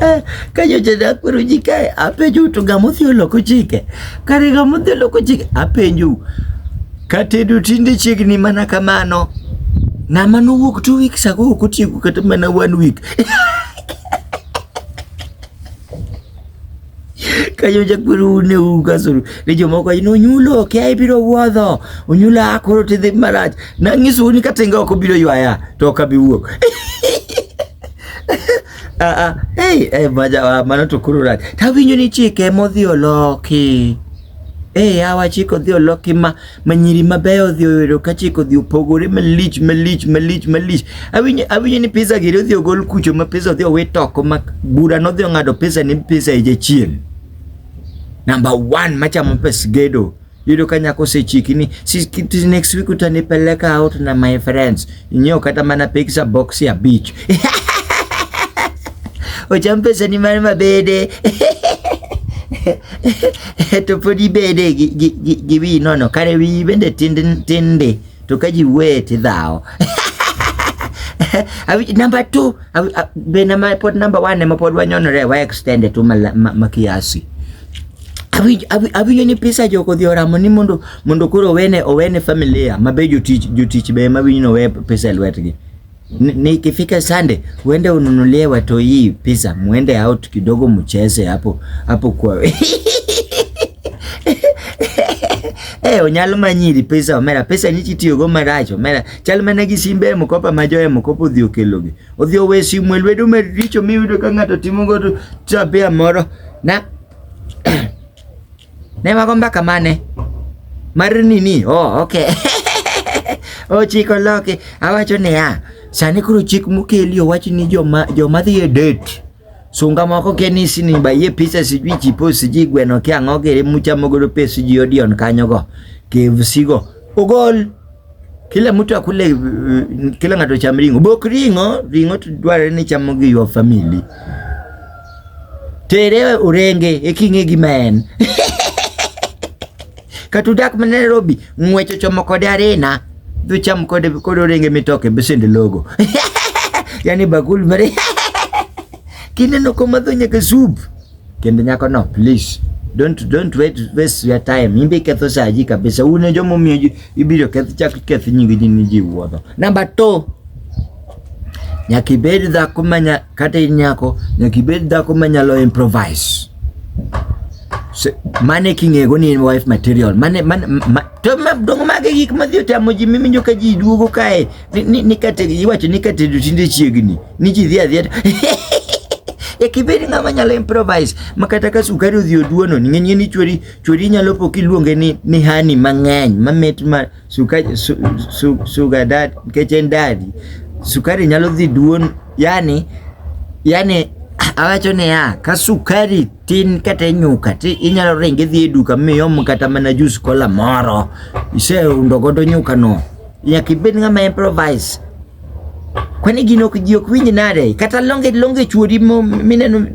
Eh, ka nyocha ne akwero ji kae apenjou to ng'ama odhi oloko chike kare ng'ama odhi oloko chike apenjou katedo tinde chiegni mana kamano ng'ama nowuok two weeks ago ok otieko kata mana one week Kayoja kweru ne ugasuru ni jomoko ino nyulo kia ibiro wuodho unyula ah, koro tidhi marach nanyisu ni katenga ok obiro ywaya to ok abi wuok ah, ah, hey, hey, maja, mano to koro rach tawinjo ni chike modhi oloki hey, awa chike odhi oloki ma ma nyiri mabeyo odhi oyudo ka chik odhi opogore malich malich malich malich. Awinjo awinjo ni pizza giri odhi ogol kucho ma pizza odhi owit oko ma bura nodhi ong'ado pizza ni pizza e jachien. Number 1 machamo pes gedo. Yudo ka nyako osechiki ni next week utanipeleka out na my friends. Inyo kata mana pizza box ya beach. Ocham pesa ni mar mabede. to pod ibede gi, gi, gi, gi wi nono kare wi bende tinde tinde to ka ji wuoye tidhawo number two be nama pod number one ema pod wanyonore wa extend tu ma, ma, ma kiasi awinjo ni pisa jogo dhi oramo ni mondo mondo koro owene owene familia mabe jotich jotich be ma winyo we pesa e lwetgi ni kifika sande uende ununulie watu hii pizza muende out kidogo mcheze hapo hapo kwa Eh, onyalo manyiri pesa omera pesa ni chitiyo go maracho omera chal mana gi simbe mkopa majoe mkopo dhi okelogi odhi owe simu e lwedo maricho miyudo ka ng'ato timo go tabia moro na ne mago mbaka mane mar nini oh, okay ochiko oh, loke awacho niya sani koro chik mokeli owach ni joma joma dhi e date sunga moko kenisi ni bayie pisa sijui chipo sijui gweno kia ang'o kere muchamo godo pes ji odion kanyogo kevsigo ogol Kila mtu akule uh, kila ng'ato cham ring'o. Bok ring'o, ring'o dwarore ni chamo gi your family. Tere orenge e king'e gi maen. Katudak ma Nairobi, ng'wecho chomo kode arena, dhi cham kode kod orenge mitoke besende logo. yani bakul mare. Kineno komadho nyaka soup. Kend nyako no please. Don't don't wait waste your time. Imbe iketho saa ji kabisa. Une jomo miyo ibiro keth chak keth nyingi ji ni ji wuodho. Number 2. Nyaka ibed dhako manya kata in nyako, nyaka ibed dhako manyalo improvise. So, mane king'ego ni in wife material. Mane mane ma, to ma, dongo mage gik madhi otamo ji miminjo ka ji duogo kae iwacho ni katedo tinde chiegni ni ji dhi adhiya e kibed ng'ama nyalo improvise ma kata ka sukari odhi oduono ning'enyie ni chweri chweri nyalo po kiluonge ni, ni hani mang'eny mamit ma sukari su, su, suga dad nikech en dadi sukari nyalo dhi duon yani yani awacho niya ka sukari tin kata nyuka ti inyalo ringe dhi e duka miom kata mana jus kola moro iseundogodo nyukano Nyaka ibed ng'ama improvise. Kwani gino ok ji ok winj nade? Kata longe longe chuori mineno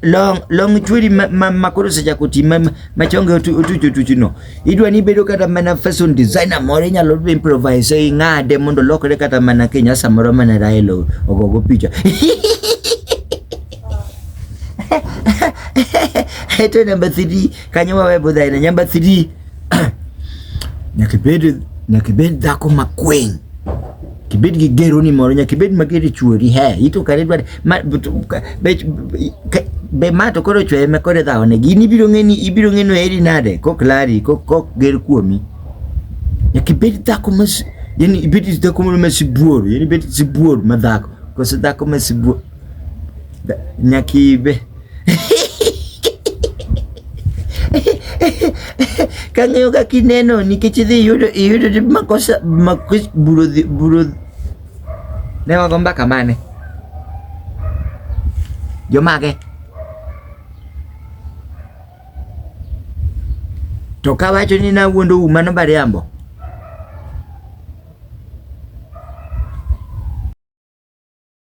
long long chweri makoro osechako ti machonge otuch otuchno idwa ni ibedo kata mana fashion designer moro inyalo improvise ing'ade mondo lokre kata mana kenya samoro mana rael ogogo picha eto namba 3 kanyo wawe budhaina namba 3 nyaka ibed nyaka ibed dhako ma kwiny kibed gi gero ni moro nyaka ibed mager e chuori he ito kare dwar be ma to koro chweye ma kore dhawo ne gini ibiro ng'eni ibiro ng'eno eri nade kok lari kok kok ger kuomi nyaka ibed dhako ma yani ibed dhako moro ma sibuor yani ibed sibuor ma dhako koso dhako ma sibuor Nyakibe. Kang'eyo ka kineno nikech idhi yudo iyudo makosa makosa buro buro ne wago mbaka mane jomage to kawacho ni nawuondo u mano bariambo